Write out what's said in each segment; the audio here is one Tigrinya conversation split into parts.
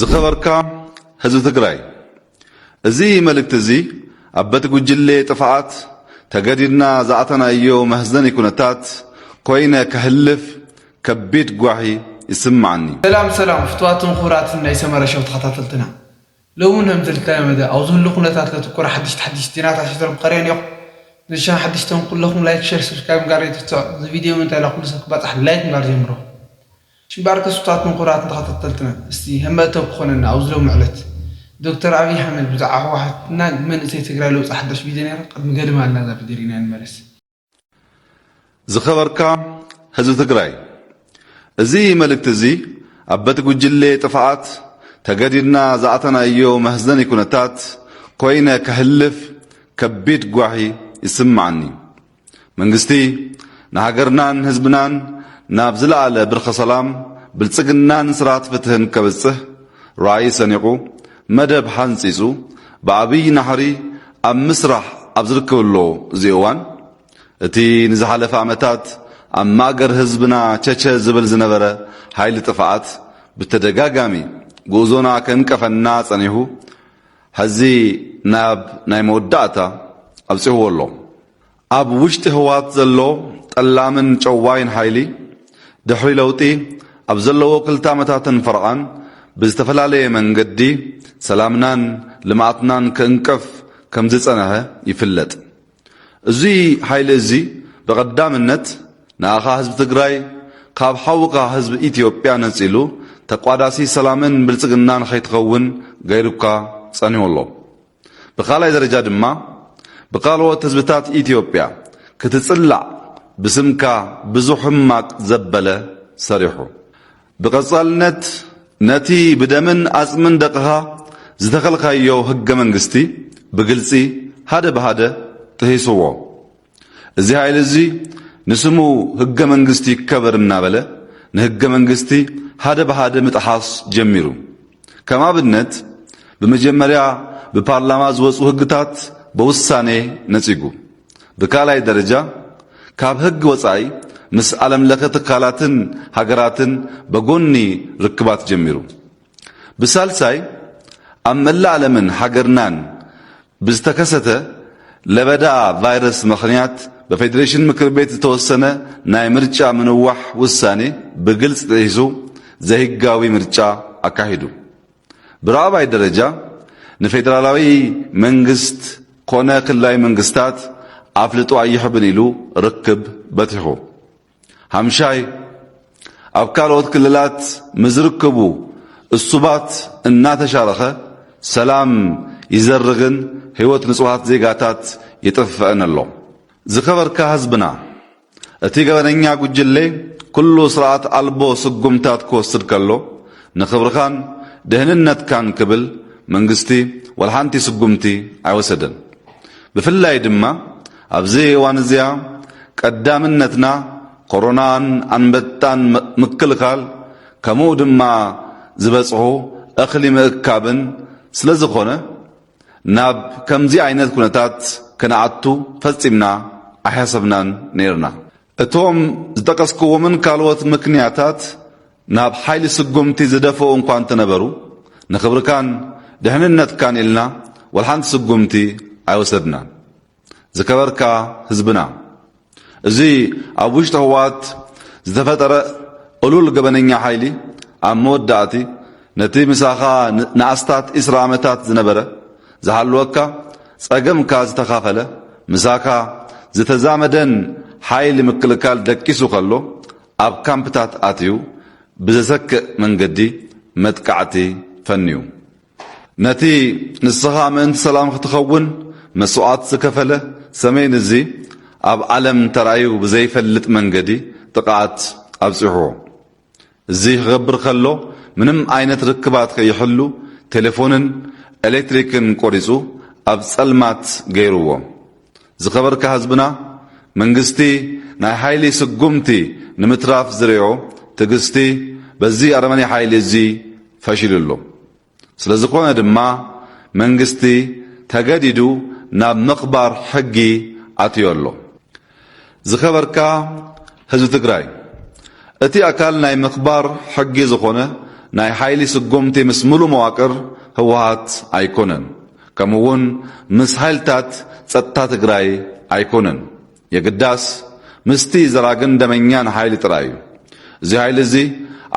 ዝኸበርካ ህዝቢ ትግራይ እዚ መልእክቲ እዚ ኣብ በቲ ጉጅሌ ጥፍኣት ተገዲድና ዝኣተናዮ መህዘኒ ኩነታት ኮይነ ከህልፍ ከቢድ ጓሂ ይስማዓኒ። ሰላም ሰላም ፍትዋትን ኩቡራትን ናይ ሰመረ ሸው ተከታተልትና ሎሚ ን ከምዝልተለመደ ኣብ ዝህሉ ኩነታት ለትኩር ሓድሽቲ ሓድሽቲ ዜናታት ሒዘልኩም ቀሪበ ኔኩ ንሻ ሓድሽቲ ን ኩለኩም ላይክ ሸር ስብስክራይብ ምግባር ኣይትርሰዑ እዚ ቪድዮ ምእንተ ላኩሉ ሰብ ክባጻሕ ላይክ ምግባር ጀምሩ ጭባር ተስፍታትን ኩራትን ተኸታተልትናን እስቲ ህመእተው ክኾነና ኣብዚ ሎሚ ዕለት ዶክተር ኣብይ ሓመድ ብዛዕባ ህወሓት እና መንእሰይ ትግራይ ለውጢ ሓዳሽ ቪድዮ ነይራ ቅድሚ ገድም ኣላ እዛ ቪድዮ ሪእናያ ንመለስ። ዝኸበርካ ህዝቢ ትግራይ እዚ መልእክቲ እዚ ኣብ በቲ ጉጅሌ ጥፍኣት ተገዲድና ዝኣተናዮ መህዘኒ ኩነታት ኮይነ ከህልፍ ከቢድ ጓሂ ይስማዓኒ። መንግስቲ ንሃገርናን ህዝብናን ናብ ዝለኣለ ብርኪ ሰላም፣ ብልፅግናን ስርዓት ፍትህን ከብፅሕ ራእይ ሰኒቑ መደብ ሓንፂፁ ብዓብይ ናሕሪ ኣብ ምስራሕ ኣብ ዝርከበሎ እዚ እዋን እቲ ንዝሓለፈ ዓመታት ኣብ ማእገር ህዝብና ቸቸ ዝብል ዝነበረ ሓይሊ ጥፍኣት ብተደጋጋሚ ጉእዞና ከንቀፈና ፀኒሑ ሐዚ ናብ ናይ መወዳእታ ኣብፂሕዎ ኣሎ። ኣብ ውሽጢ ህወሓት ዘሎ ጠላምን ጨዋይን ሓይሊ ድሕሪ ለውጢ ኣብ ዘለዎ ክልተ ዓመታትን ፈርቓን ብዝተፈላለየ መንገዲ ሰላምናን ልምዓትናን ክእንቅፍ ከምዝፀነሐ ይፍለጥ። እዙይ ሓይሊ እዚ ብቐዳምነት ንኣኻ ህዝቢ ትግራይ ካብ ሓውካ ህዝቢ ኢትዮጵያ ነፂሉ ተቋዳሲ ሰላምን ብልፅግናን ከይትኸውን ገይሩካ ፀኒሁ ኣሎ። ብካልኣይ ደረጃ ድማ ብካልኦት ህዝብታት ኢትዮጵያ ክትፅላዕ ብስምካ ብዙሕ ሕማቅ ዘበለ ሰሪሑ። ብቐጻልነት ነቲ ብደምን ኣጽምን ደቕኻ ዝተኸልካዮ ህገ መንግስቲ ብግልጺ ሃደ ብሃደ ጥሂሱዎ። እዚ ሃይሊ እዚ ንስሙ ህገ መንግስቲ ይከበር እናበለ ንህገ መንግስቲ ሃደ ብሃደ ምጥሓስ ጀሚሩ። ከም ኣብነት ብመጀመርያ ብፓርላማ ዝወጹ ህግታት በውሳኔ ነጺጉ፣ ብካልኣይ ደረጃ ካብ ህግ ወጻኢ ምስ ኣለም-ለኸ ትካላትን ሃገራትን በጎኒ ርክባት ጀሚሩ፣ ብሳልሳይ ኣብ መላእ ኣለምን ሃገርናን ብዝተከሰተ ለበዳ ቫይረስ መኽንያት በፌዴሬሽን ምክር ቤት ዝተወሰነ ናይ ምርጫ ምንዋሕ ውሳኔ ብግልፅ ጥሒሱ ዘይህጋዊ ምርጫ ኣካሒዱ። ብራኣባይ ደረጃ ንፌዴራላዊ መንግስት ኮነ ክልላዊ መንግስታት ኣፍልጦ ኣይሕብን ኢሉ ርክብ በቲሑ። ሓምሻይ፣ ኣብ ካልኦት ክልላት ምስዝርከቡ እሱባት እናተሻረኸ ሰላም ይዘርግን ህይወት ንፁሃት ዜጋታት ይጥፍእን ኣሎ። ዝከበርካ ህዝብና እቲ ገበነኛ ጉጅሌ ኩሉ ስርዓት ኣልቦ ስጉምታት ክወስድ ከሎ ንክብርኻን ደህንነትካን ክብል መንግስቲ ዋላሓንቲ ስጉምቲ ኣይወሰደን። ብፍላይ ድማ ኣብዚ እዋን እዚኣ ቀዳምነትና ኮሮናን ኣንበጣን ምክልካል ከሙኡ ድማ ዝበፅሑ እኽሊ ምእካብን ስለዝኾነ ናብ ከምዚ ዓይነት ኩነታት ከነኣቱ ፈፂምና ኣይሓሰብናን ነይርና። እቶም ዝጠቀስኩዎምን ካልኦት ምክንያታት ናብ ሓይሊ ስጉምቲ ዝደፈኡ እኳ እንተነበሩ፣ ንክብርካን ድሕንነትካን ኢልና ወልሓንቲ ስጉምቲ ኣይወሰድናን። ዝከበርካ ህዝብና፣ እዚ ኣብ ውሽጢ ህወሓት ዝተፈጠረ እሉል ገበነኛ ሓይሊ ኣብ መወዳእቲ ነቲ ምሳኻ ንኣስታት ዕስራ ዓመታት ዝነበረ ዝሃልወካ ጸገምካ ዝተኻፈለ፣ ምሳኻ ዝተዛመደን ሓይሊ ምክልካል ደቂሱ ከሎ ኣብ ካምፕታት ኣትዩ ብዘሰክእ መንገዲ መጥቃዕቲ ፈንዩ። ነቲ ንስኻ ምእንቲ ሰላም ክትኸውን መስዋእት ዝከፈለ ሰሜን እዚ ኣብ ዓለም ተራእዩ ብዘይፈልጥ መንገዲ ጥቕዓት ኣብጺሑዎ። እዚ ክገብር ከሎ ምንም ዓይነት ርክባት ከይሕሉ ቴሌፎንን ኤሌክትሪክን ቆሪጹ ኣብ ጸልማት ገይርዎም። ዝከበርካ ህዝብና መንግስቲ ናይ ሓይሊ ስጉምቲ ንምትራፍ ዝሪኦ ትግስቲ በዚ ኣረመኔ ሓይሊ እዚ ፈሺሉ ኣሎ። ስለዝኾነ ድማ መንግስቲ ተገዲዱ ናብ ምኽባር ሕጊ ኣትዮ ኣሎ። ዝኸበርካ ህዝቢ ትግራይ፣ እቲ ኣካል ናይ ምኽባር ሕጊ ዝኾነ ናይ ሓይሊ ስጉምቲ ምስ ምሉእ መዋቅር ህወሓት ኣይኮነን፣ ከምኡ'ውን ምስ ሓይልታት ፀጥታ ትግራይ ኣይኮነን። የግዳስ ምስቲ ዘራግን ደመኛን ሓይሊ ጥራይ እዩ። እዚ ሓይሊ እዚ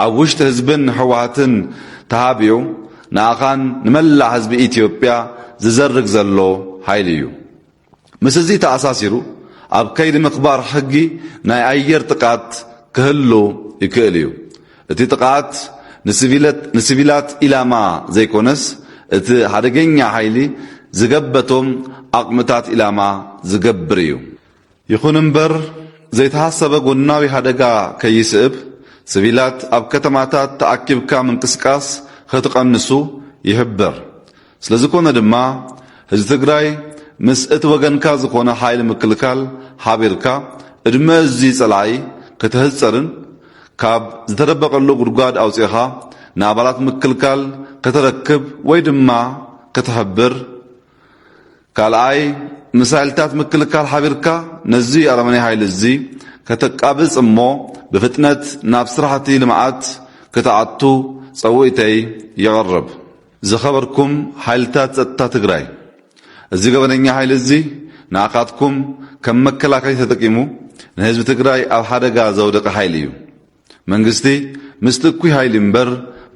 ኣብ ውሽጢ ህዝብን ህወሓትን ተሃብዩ ንኣኻን ንመላእ ህዝቢ ኢትዮጵያ ዝዘርግ ዘሎ ሓይሊ እዩ። ምስ እዚ ተኣሳሲሩ ኣብ ከይዲ ምኽባር ሕጊ ናይ ኣየር ጥቃት ክህሉ ይክእል እዩ። እቲ ጥቕዓት ንስቪላት ኢላማ ዘይኮነስ እቲ ሓደገኛ ሓይሊ ዝገበቶም ዓቕምታት ኢላማ ዝገብር እዩ። ይኹን እምበር ዘይተሃሰበ ጎናዊ ሓደጋ ከይስእብ ስቪላት ኣብ ከተማታት ተኣኪብካ ምንቅስቃስ ኸትቐንሱ ይሕብር። ስለዝኮነ ድማ ህዝቢ ትግራይ ምስ እቲ ወገንካ ዝኾነ ሓይሊ ምክልካል ሓቢርካ እድመ እዙ ፀላኢ ከተህፀርን ካብ ዝተደበቀሉ ጉድጓድ ኣውፂእኻ ንኣባላት ምክልካል ከተረክብ ወይ ድማ ከተሕብር ካልኣይ ምስ ሓይልታት ምክልካል ሓቢርካ ነዙ ኣረመኔ ሓይሊ እዙ ከተቃብፅ እሞ ብፍጥነት ናብ ስራሕቲ ልምዓት ክትኣቱ ፀውኢተይ የቅርብ። ዝኸበርኩም ሓይልታት ፀጥታ ትግራይ እዚ ገበነኛ ሓይሊ እዚ ንዓኻትኩም ከም መከላከሊ ተጠቂሙ ንህዝቢ ትግራይ ኣብ ሓደጋ ዘውደቀ ሓይሊ እዩ። መንግስቲ ምስቲ እኩይ ሓይሊ እምበር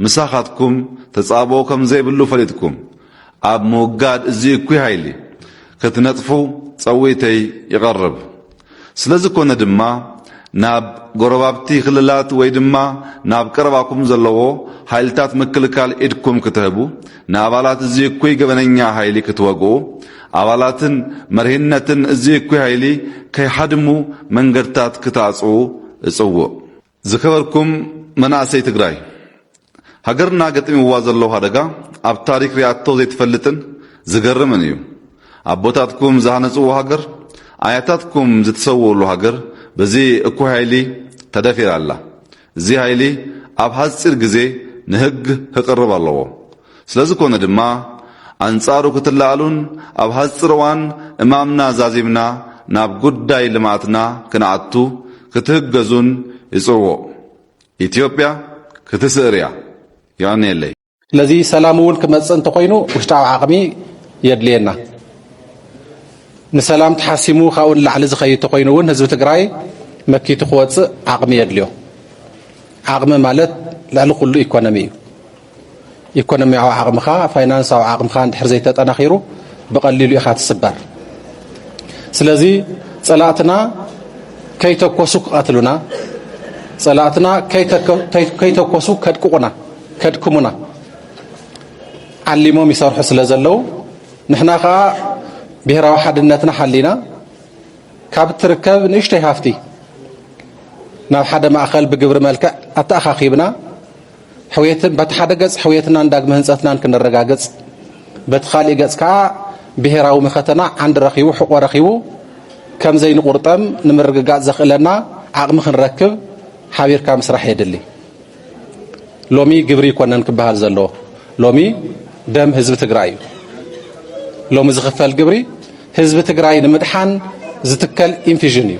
ምሳኻትኩም ተፃብኦ ከም ዘይብሉ ፈሊጥኩም ኣብ ምውጋድ እዚ እኩይ ሓይሊ ክትነጥፉ ፀዊተይ ይቐርብ። ስለዝኮነ ድማ ናብ ጎረባብቲ ክልላት ወይ ድማ ናብ ቀረባኩም ዘለዎ ሃይልታት ምክልካል ኢድኩም ክትህቡ፣ ንኣባላት እዚ እኩይ ገበነኛ ሃይሊ ክትወግኡ፣ ኣባላትን መሪህነትን እዚ እኩይ ሃይሊ ከይሓድሙ መንገድታት ክታጽኡ እጽውእ። ዝከበርኩም መናእሰይ ትግራይ ሃገርና ገጢምዋ ዘሎ ሓደጋ ኣብ ታሪክ ሪኣቶ ዘይትፈልጥን ዝገርምን እዩ። ኣቦታትኩም ዝሃነፅዎ ሃገር፣ ኣያታትኩም ዝተሰውኡሉ ሃገር በዚ እኩይ ሃይሊ ተደፊራ ኣላ። እዚ ሃይሊ ኣብ ሃፂር ግዜ ንህግ ህቅርብ ኣለዎ። ስለዝኮነ ድማ ኣንጻሩ ክትለኣሉን ኣብ ሐጽር እዋን እማምና ዛዚምና ናብ ጉዳይ ልምኣትና ክንኣቱ ክትህገዙን ይጽውዕ። ኢትዮጵያ ክትስእር እያ። የቀንየለይ። ስለዚ ሰላም እውን ክመፅእ እንተኾይኑ ውሽጣዊ ዓቕሚ የድልየና። ንሰላም ተሓሲሙ ካብኡ ንላዕሊ ዝኸይድ ተኾይኑ እውን ህዝቢ ትግራይ መኪቱ ክወፅእ ዓቕሚ የድልዮ። ዓቕሚ ማለት ልዕሊ ኩሉ ኢኮኖሚ እዩ። ኢኮኖሚያዊ ዓቕምኻ፣ ፋይናንሳዊ ዓቕምኻ እንድሕር ዘይተጠናኺሩ ብቐሊሉ ኢኻ ትስበር። ስለዚ ጸላእትና ከይተኮሱ ክቐትሉና፣ ጸላእትና ከይተኮሱ ከድቅቑና፣ ከድክሙና ዓሊሞም ይሰርሑ ስለ ዘለዉ ንሕና ከዓ ብሔራዊ ሓድነትና ሓሊና ካብ እትርከብ ንእሽተይ ሃፍቲ ናብ ሓደ ማእኸል ብግብሪ መልክዕ ኣተኣኻኺብና ሕውየትን በቲ ሓደ ገጽ ሕውየትናን ዳግመ ህንጸትናን ክነረጋግጽ በቲ ካልእ ገጽ ከኣ ብሔራዊ መኸተና ዓንዲ ረኺቡ ሕቆ ረኺቡ ከም ዘይንቁርጠም ንምርግጋጽ ዘኽእለና ዓቕሚ ክንረክብ ሓቢርካ ምስራሕ የድሊ። ሎሚ ግብሪ ይኮነን ክበሃል ዘለዎ ሎሚ ደም ህዝቢ ትግራይ እዩ ሎሚ ዝኽፈል ግብሪ ህዝቢ ትግራይ ንምድሓን ዝትከል ኢንፊዥን እዩ